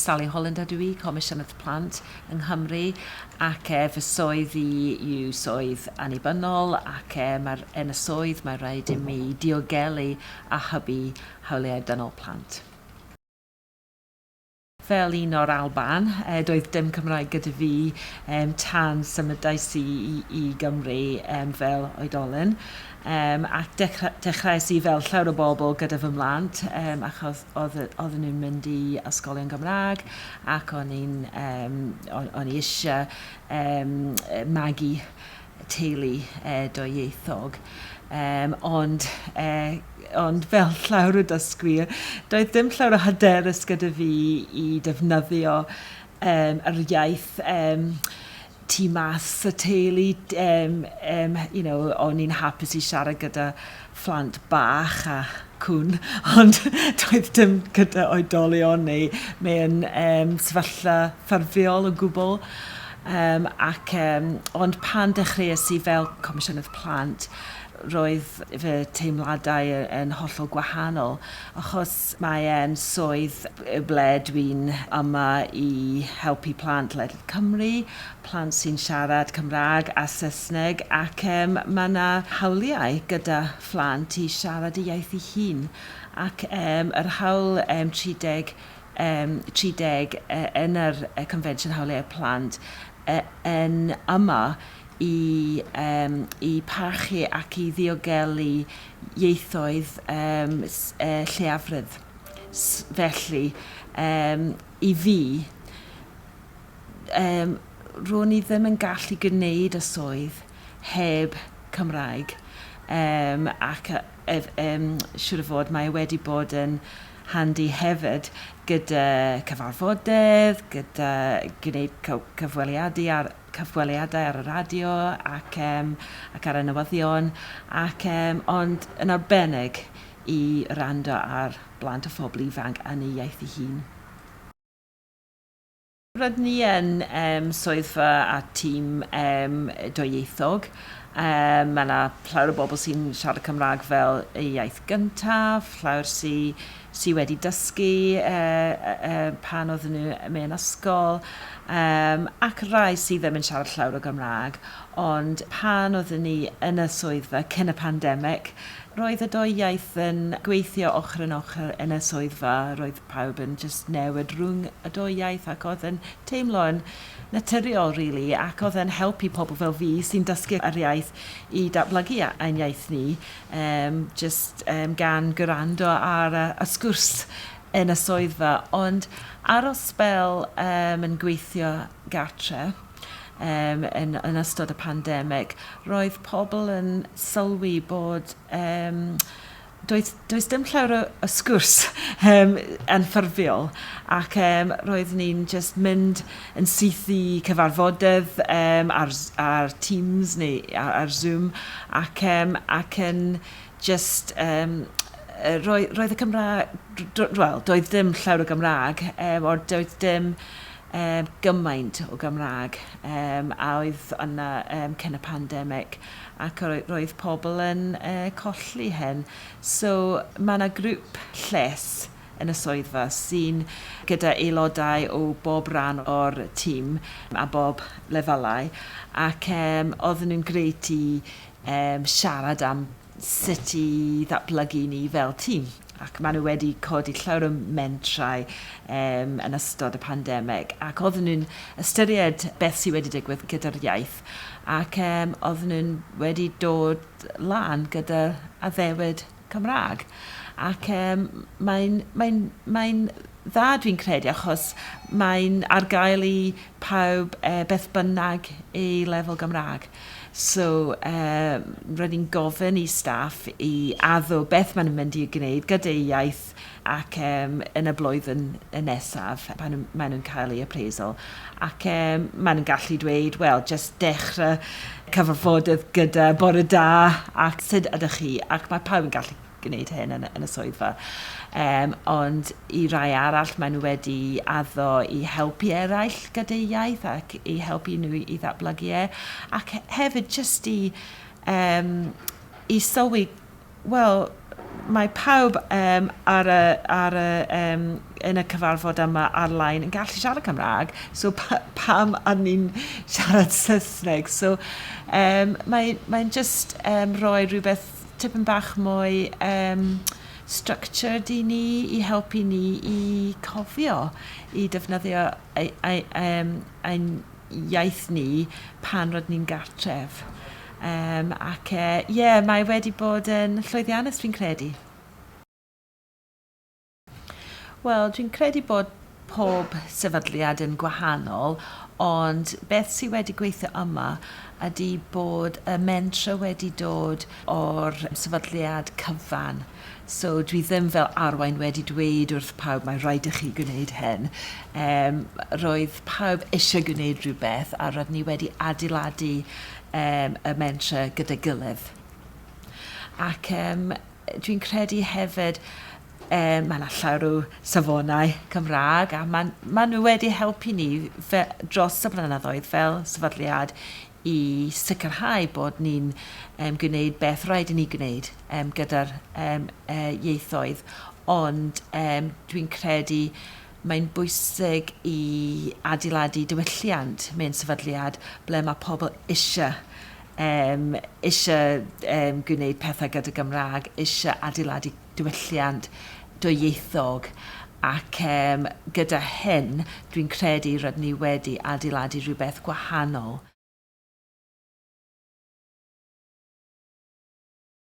Sally Holland ydw i, Comisiynydd Plant yng Nghymru ac e, fy swydd i yw swydd annibynnol ac e, mae'r, yn y swydd mae rhaid i mi diogelu a hybu hawliau dynol plant. Fel un o'r Alban, doedd dim Cymraeg gyda fi tan symudais i i Gymru fel oedolyn, ac dechreuais i fel llawer o bobl gyda fy mhlant achos oedden nhw'n mynd i ysgolion Gymraeg ac o'n i eisiau magu teulu dwyieithog, um, ond, uh, ond fel llawr o dysgwyr, doedd ddim llawr o hyderus gyda fi i defnyddio um, yr iaith um, tu mas y teulu, um, um, you know, o'n i'n hapus i siarad gyda phlant bach a cŵn, ond doedd dim gyda oedolion neu mewn um, sefyllfa ffurfiol o gwbl. Um, ac, um, ond pan dechreuais i fel Comisiynydd Plant, roedd fy teimladau yn hollol gwahanol, achos mae e'n swydd ble dwi'n yma i helpu plant ledled Cymru, plant sy'n siarad Cymraeg a Saesneg, ac um, mae yna hawliau gyda phlant i siarad y iaith ei hun, ac um, yr hawl um, 30, um, 30 uh, yn yr uh, Confensiwn Hawliau Plant uh, yn yma i, um, i parchu ac i ddiogelu ieithoedd um, uh, lleiafredd. Felly, um, i fi, um, ro'n i ddim yn gallu gwneud y swydd heb Cymraeg yym ac yy ef- yym siŵr o fod mae e wedi bod yn handi hefyd gyda cyfarfodydd, gyda gwneud cy- cyfweliadu ar cyfweliadau ar y radio ac yym ac ar y newyddion ac yym ond yn arbennig i wrando ar blant a phobl ifanc yn ei iaith ei hun. Rydyn ni yn swyddfa a tîm dwyieithog, mae 'na llawer o bobl sy'n siarad Cymraeg fel eu iaith gyntaf, llawer sy sy wedi dysgu pan oedden nhw mewn ysgol, yym ac rai sydd ddim yn siarad llawer o Gymraeg, ond pan oedden ni yn y swyddfa cyn y pandemig, roedd y dwy iaith yn gweithio ochr yn ochr yn y swyddfa, roedd pawb yn jyst newid rhwng y dou iaith ac oedd yn teimlo yn naturiol rili ac oedd e'n helpu pobl fel fi sy'n dysgu yr iaith i datblygu ein iaith ni yym jyst yym gan gwrando ar y y sgwrs yn y swyddfa ond ar ol sbel yym yn gweithio gartre yym yn yn ystod y pandemig roedd pobl yn sylwi bod yym Does, does dim llawer o, o sgwrs um, yn ffurfiol ac um, roeddwn ni'n just mynd yn syth i cyfarfodydd um, ar, ar Teams neu ar, ar Zoom ac, um, ac yn just um, roedd, roedd y Cymraeg, well, doedd dim llawer o Gymraeg, um, o'r doedd dim Yym, gymaint o Gymraeg yym a oedd yna yym cyn y pandemic ac yy roedd pobl yn yy colli hyn. So ma' 'na grŵp lles yn y swyddfa sy'n gyda aelodau o bob ran o'r tîm a bob lefelau ac yym oedden nhw'n grêt i yym siarad am sut i ddatblygu ni fel tîm, ac maen nhw wedi codi llawer o mentrau um, yn ystod y pandemig, ac oedden nhw'n ystyried beth sydd wedi digwydd gyda'r iaith, ac um, oedden nhw'n wedi dod lan gyda addewid Cymraeg. Ac um, mae'n mae mae dda dwi'n credu achos mae'n ar gael i pawb e, beth bynnag ei lefel Gymraeg. So um, roedd hi'n gofyn i staff i addo beth maen nhw'n mynd i gwneud gyda'u iaith ac um, yn y blwyddyn nesaf pan maen nhw'n cael ei appraisal. Ac um, maen nhw'n gallu dweud, wel, just dechrau cyfarfodydd gyda bore da ac sut ydych chi? Ac mae pawb yn gallu gwneud hyn yn, yn y swyddfa. Um, ond i rai arall, maen nhw wedi addo i helpu eraill gyda'u iaith ac i helpu nhw i ddatblygu e. Ac hefyd jyst i, um, i sylwi, wel, mae pawb um, ar y, ar y, um, yn y cyfarfod yma ar-lein yn gallu siarad Cymraeg, so pa, pam ar ni'n siarad Saesneg? So um, mae'n mae just um, rhoi rhywbeth tipyn bach mwy um, structured i ni, i helpu ni i cofio, i defnyddio ein, ein, ein, ein iaith ni pan rydyn ni'n gartref. Um, ac ie, uh, yeah, mae wedi bod yn llwyddiannus fi'n credu. Wel, dwi'n credu bod pob sefydliad yn gwahanol, ond beth sydd wedi gweithio yma ydy bod y mentrau wedi dod o'r sefydliad cyfan. So dwi ddim fel arwain wedi dweud wrth pawb mae rhaid i chi gwneud hyn. Yym roedd pawb eisiau gwneud rhywbeth a roeddwn ni wedi adeiladu yym y mentrau gyda'i gilydd. Ac yym Dwi'n credu hefyd yy ma' 'na llawer o safonau Cymrâg a ma'n ma' nw wedi helpu ni fe- dros y blynyddoedd fel sefydliad i sicrhau bod ni'n yym gwneud beth rhaid i ni gwneud yym gyda'r yym yy ieithoedd ond yym dwi'n credu Mae'n bwysig i adeiladu diwylliant mewn sefydliad ble mae pobl eisiau, yym, eisiau yym gwneud pethau gyda Gymraeg, eisiau adeiladu diwylliant dwyieithog ac yym gyda hyn dwi'n credu rydyn ni wedi adeiladu rhywbeth gwahanol.